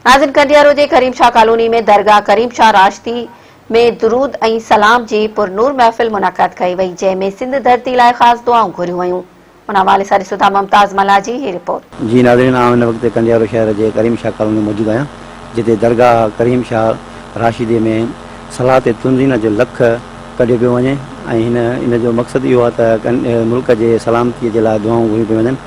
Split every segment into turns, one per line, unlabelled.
ناظرين ڪنڊيارو جي ڪريم شاھ ڪالوني ۾ درگاھ ڪريم شاھ راشدي ۾ درود ۽ سلام جي پرنور محفل منعقد ڪئي وئي جنهن ۾ سنڌ ڌرتي لاء خاص دعائون گهريون ويون ان حوالي سان ڏسون ٿا ممتاز ملاح جي هي رپورٽ. جي ناظرين آئون هن وقت
ڪنڊيارو شهر جي ڪريم شاھ ڪالوني ۾ موجود آهيان جتي درگاھ ڪريم شاھ راشدي ۾ صلاح تي تنظينا جو لک ڪڍيو پيو وڃي ۽ هن ان جو مقصد اهو آهي ته ملڪ جي سلامتي جي لاء دعائون گهريون پيون وڃن.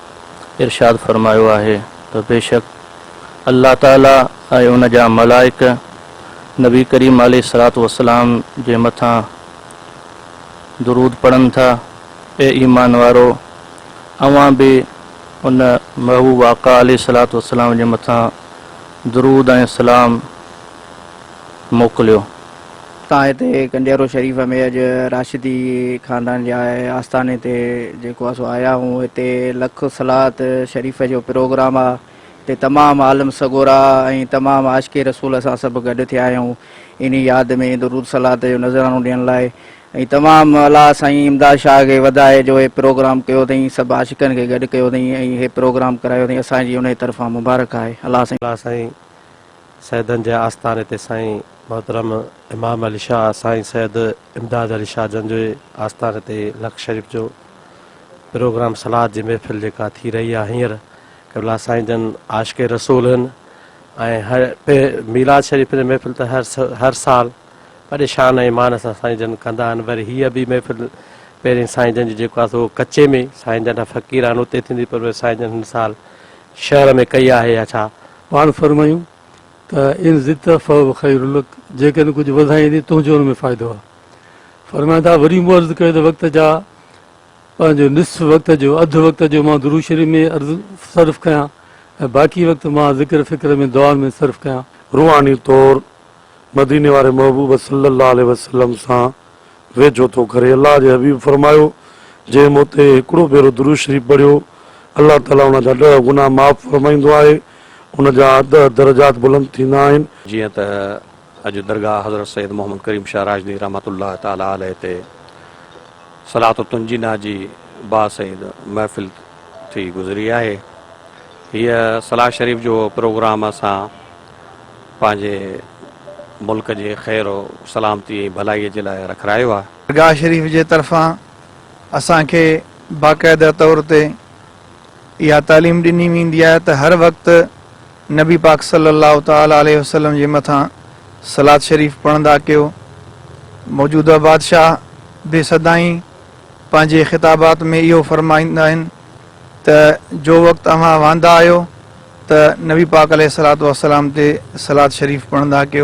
ارشاد فرمايو آهي ته بيشڪ الله تعالي ۽ ان جا ملائڪ نبي ڪريم عليه الصلوة والسلام جي مٿان درود پڙهن ٿا، اي ايمان وارؤ! اوهان به ان محبوب آقا عليه الصلوة والسلام جي مٿان درود ۽ سلام موڪليو.
تان هتي ڪنڊيرو شريف ۾ اڄ راشدي خاندان جي آستاني تي جيڪو آ سو آيا هون هتي لک صلات شريف جو پروگرام آ هتي تمام عالم سڳورا ۽ تمام عاشق رسول اسان سڀ گڏ ٿيا آهيون انهي ياد ۾ درود صلات جو نذرانو ڏيڻ لاء ۽ تمام الله سائين امداد شاهه کي وڌائي جو هي پروگرام ڪيو اٿئين سڀ عاشقن کي گڏ ڪيو اٿئين ۽ هي پروگرام ڪرايو اٿئين اسان جي انهي طرفان مبارڪ آهي الله سائين
سيدن جي آستاني تي سائين محترم امام علي شاهه سائين سيد امداد علي شاهه جن جي آستاني تي لڪ شريف جو پروگرام صلات جي محفل جيڪا ٿي رهي آهي هينئر قبلا سائين جن عاشق رسول هن ۽ هر ميلاد شريف جي محفل ته هر هر سال وڏي شان ۽ مان سان سائين جن ڪندا آهن وري هيء به محفل پهرين سائين جن جي جيڪو آهي سو ڪچي ۾ سائين جن فقير آهن اتي ٿيندي پر سائين جن هن سال شعر ۾ ڪئي آهي يا ڇا؟ پاڻ فرمايون
ته ان زدت فهو خير لڪ جيڪڏهن ڪجهه وڌائين ته تنهنجو ان ۾ فائدو آهي. فرمايان ٿا وري مون عرض ڪيو ته وقت جا پنهنجو نصف وقت جو اڌ وقت جو مان درود شريف ۾ صرف ڪيان ۽ باقي وقت مان ذڪر فڪر ۾ دعائن ۾ صرف ڪيان. روحاني طور
مديني واري محبوب صلّي اللّٰه عليه وسلّم سان ويجهو ٿو ڪري. الله جي حبيب فرمايو، جنهن مون تي هڪڙو ڀيرو درود شريف پڙهيو، الله تعاليٰ ان جا ڏهه گناهه معاف فرمائيندو آهي، ان جا ڏهه درجات بلند ٿيندا آهن. جيئن ته
اڄ درگاهه حضرت سيد محمد ڪريم شاهه راشدي رحمة الله تعالٰي عليه تي صلاة التنجينا جي باسعيد محفل ٿي گذري آهي. هيء صلاة شريف جو پروگرام اسان. پنهنجي ملڪ جي خير و سلامتي ۽ ڀلائي جي لاء رکرايو آهي. درگاهه شريف جي
طرفان اسان کي باقاعده طور تي اها تعليم ڏني ويندي آهي ته هر وقت نبي پاڪ صلي الله تعالٰي عليه وسلم جي مٿان صلات شريف پڙهندا ڪيو. موجوده بادشاهه به سدائين پنهنجي خطابات ۾ اهو فرمائيندا آهن. ته جو وقت اوهان واندا آهيو ته نبي پاڪ عليه الصلوة والسلام تي صلوات شريف پڙهندا ڪيو.